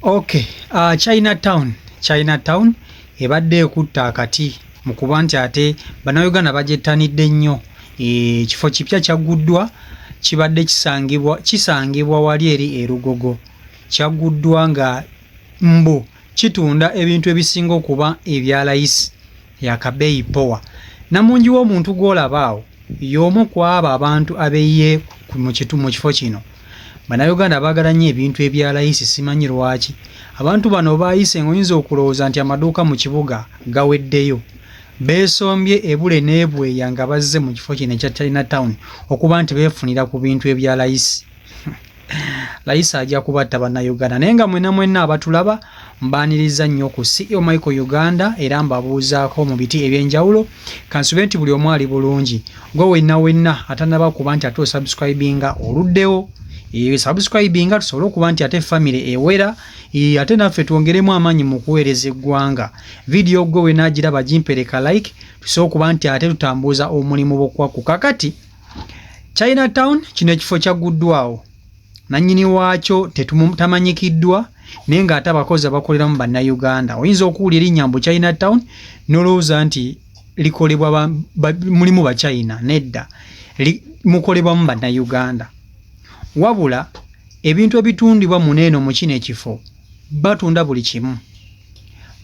Okay, uh, China Town, China Town ebadde ekutta akati mu kuba nti ate bannayuganda bagyettanidde nnyo eh, ekifo kipya kyagguddwa kibadde kisangibwa kisangibwa wali eri erugogo kyagguddwa nga mbu kitunda ebintu ebisinga okuba ebya layisi yakabeeyi powa namungi w'omuntu gw'olaba awo y'omu ku abo abantu abeyiye mu kifo kino bannayuganda baagala nnyo ebintu ebya layisi simanyi lwaki abantu bano baayise ng'oyinza okulowooza nti amaduuka mu kibuga gaweddeyo beesombye ebule n'ebweya nga bazze mu kifo kino ekya china town okuba nti beefunira ku bintu ebya layisi layisa ajja kubatta bannayuganda naye nga mwena mwena abatulaba mbaaniriza nnyo ku ceo michael uganda era mbabuuzaako mu biti ebyenjawulo kansube nti buli omu ali bulungi gwe wenna wenna atanaba kuba nti ate osubscribinga oluddewo sabuscribinga eh, tusobole okuba nti ate famiry ewera eh, ate naffe twongeremu amaanyi mu kuweereza eggwanga vidiyo gwe wenagiraba gimpereka like tusobole okuba nti ate tutambuuza omulimu bokwaku kakati china town kino ekifo kyagguddwawo nannyini waakyo tamanyikiddwa naye ng'ate abakozi abakoleramu bannayuganda oyinza okuwula erinnya mbu china town nolowooza nti likolebwa mulimu bachina nedda mukolebwamu bannayuganda wabula ebintu ebitundibwa muno eno mu kino ekifo batunda buli kimu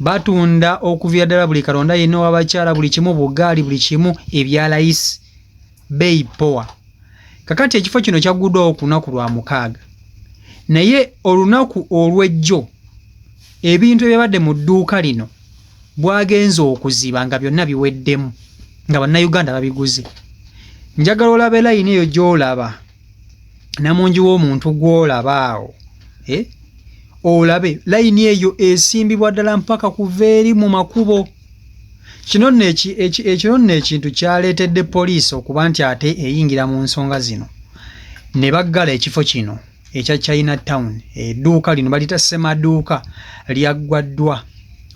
batunda okuviira ddala buli kalonda yenna owabakyala buli kimu bugaali buli kimu ebyalayisi beeyi powa kakati ekifo kino kyaggudwawo ku lunaku lwa mukaaga naye olunaku olw'ejjo ebintu ebyabadde mu dduuka lino bwagenze okuziba nga byonna biweddemu nga bannayuganda babiguze njagala olabe layini eyo gy'olaba namungi w'omuntu gw'olaba awo eh? olabe layini eyo esimbibwa ddala mpaka kuva eri mu makubo kino nno ekino nno ekintu kyaleetedde poliisi okuba nti ate eyingira mu nsonga zino ne baggala ekifo kino ekya china town edduuka lino balita ssemaduuka lyaggwaddwa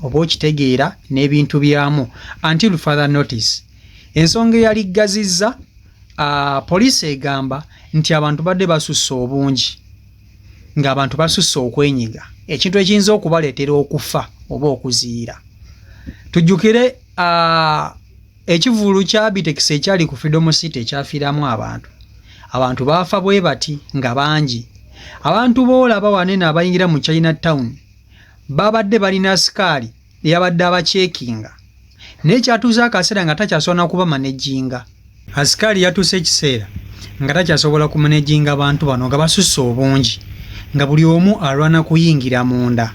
oba okitegeera n'ebintu byamu until father notice ensonga eyaliggazizza Uh, poliisi egamba nti abantu badde basusse obungi ng'abantu basusse okwenyiga ekintu ekiyinza okubaleetera okufa oba okuziira tujjukire uh, ekivulu kya bitekisi ekyali ku freedom city ekyafiiramu abantu abantu baafa bwe bati nga bangi abantu boolaba wanene abayingira mu china town babadde balina sikaali yabadde abacekinga naye kyatuuza akaseera nga takyasobola nakuba manejinga asikaali yatuuse ekiseera nga takyasobola kumanejinga bantu bano nga basusse obungi nga buli omu alwana kuyingira munda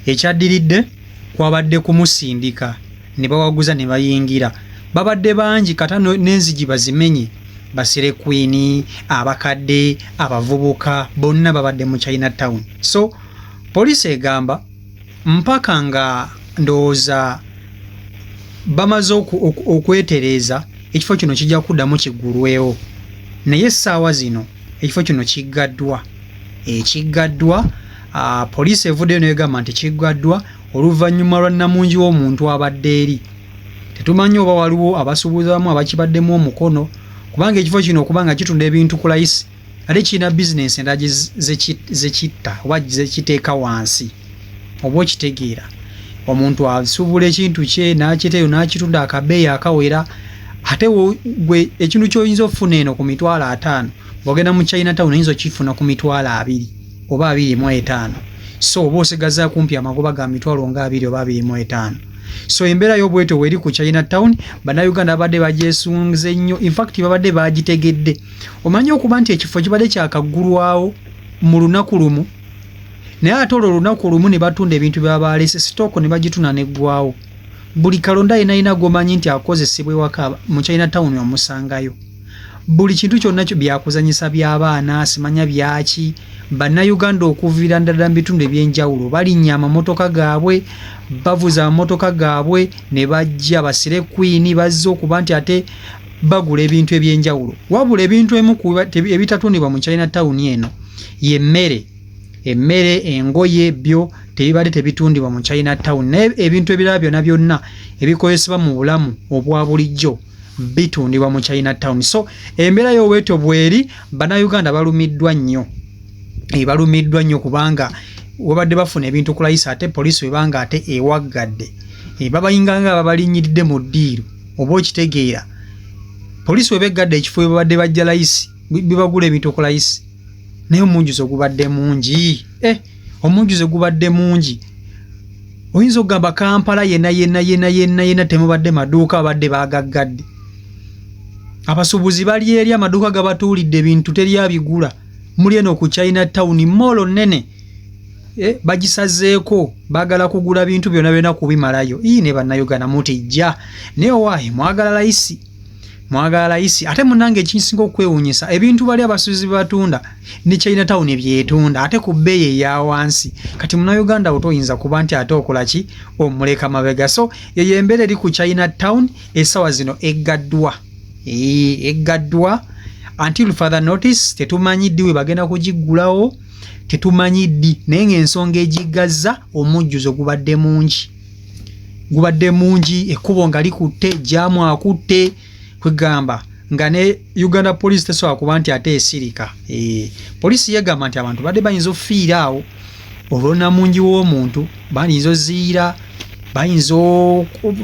ekyaddiridde kwabadde kumusindika ne bawaguza ne bayingira babadde bangi kata n'enzigi bazimenye basire kwini abakadde abavubuka bonna babadde mu china town so poliisi egamba mpaka nga ndowooza bamaze okwetereeza ekifo kino kijja kuddamu kiggulwewo naye essaawa zino ekifo kino kiggaddwa ekiggaddwa ah, poliisi evuddeyo negamba nti kiggaddwa oluvannyuma lwa nnamungi w'omuntu abadde eri tetumanyi oba waliwo abasuubuzamu abakibaddemu omukono kubanga ekifo kino okubanga kitunda ebintu ku layisi ate kirina bizinensi endala zekitta oba zekiteeka wansi oba okitegeera omuntu asuubula ekintu kye nakiteyo nakitunda akabeeyi akawera ate gwe ekintu kyoyinza okufuna eno ku mitwalo ataano ogenda mu china town oyinza okifuna ku mitwalo abiri oba abiri mu etaano so oba osigaza kumpi amagoba ga mitwalo nga abiri oba abiri mu etaano so embeera yobwetyo weri ku china town bannayuganda babadde bagyesunze nnyo infact babadde bagitegedde omanyi okuba nti ekifo kibadde kyakaggulwawo mu lunaku lumu naye ate olwo olunaku olumu ne batunda ebintu byabaalese sitooko ne bagituna neggwawo buli kalonda yenayina gomanyi nti akozesebwa ewaka mu china tawuni omusangayo buli kintu kyonna kyo byakuzanyisa by'abaana simanya byaki bannayuganda okuviira ndala mu bitundu eby'enjawulo balinnya amamotoka gaabwe bavuza amamotoka gaabwe ne bajja basire kwini bazze okuba nti ate bagula ebintu ebyenjawulo wabula ebintu emu ebitatundibwa mu china town eno ye mmere emmere engoye byo tebibadde tebitundibwa mu china town naye ebintu ebirala byona byonna ebikozesebwa mu bulamu obwa bulijjo bitundibwa mu china town so embeera yoweeto bweri banauganda balumiddwa nnyo eh, balumiddwa nnyo kubanga wabadde bafuna ebintu kulayisa ate poliisi webanga ate ewaggadde eh, babayinganga babalinyiridde mu ddiiro oba okitegeera poliisi weba eggadde ekifo webabadde bajja layisi bibagula ebintu ku layisi naye omunjuzi ogubadde mungi eh, omunjuzi ogubadde mungi oyinza okugamba kampala yena yena yena yena yena temubadde maduuka abadde bagaggadde abasuubuzi bali eri amaduuka gabatuulidde ebintu teri abigula muli eno ku china town moolo nene eh, bagisazeeko bagala kugula bintu byona byona kubimalayo ii ne bannayuganda mutijja naye owaayi mwagala layisi mwagala layisi ate munange ekinsinga okukwewunyisa ebintu bali abasuuzi bebatunda ne china town ebyetunda ate ku bbeeyi eya wansi kati munayuganda wo toyinza kuba nti ate okola ki omuleka mabega so eyo embeera eri ku china town esawa zino eggaddwa eggaddwa until father notice tetumanyi ddi we bagenda kugiggulawo tetumanyi ddi naye ng'ensonga egiggazza omujjuzo gubadde mungi gubadde mungi ekkubo nga likutte jaamu akutte kwegamba nga ne uganda poliisi tesobola kuba nti ate esirika eh, poliisi yegamba nti abantu badde bayinza okufiira awo olwona mungi w'omuntu bayinza oziira bayinza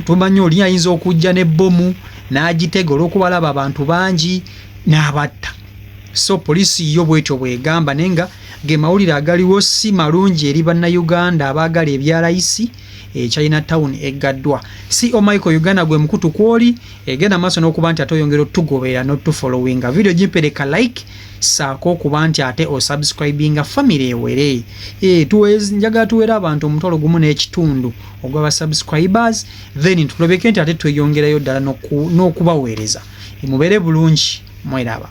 tumanyi oli ayinza okujja n'ebbomu n'agitega olw'okubalaba abantu bangi n'abatta So police yo bwetyo bwegamba naye nga ge mawulire agaliwo si malungi eri bannayuganda abaagala ebya layisi e China Town eggaddwa. CEO Michael Uganda gwe mukutu kw'oli egenda maaso n'okuba nti ate oyongera otugoberera n'otufolowinga. Vidiyo gimpereka like saako okuba nti ate osubscribinga famire ewere. E, njagala tuweere abantu omutwalo gumu n'ekitundu ogwa ba subscribers then tulobeke nti ate tweyongerayo ddala n'okubaweereza. Mubeere bulungi. mweraba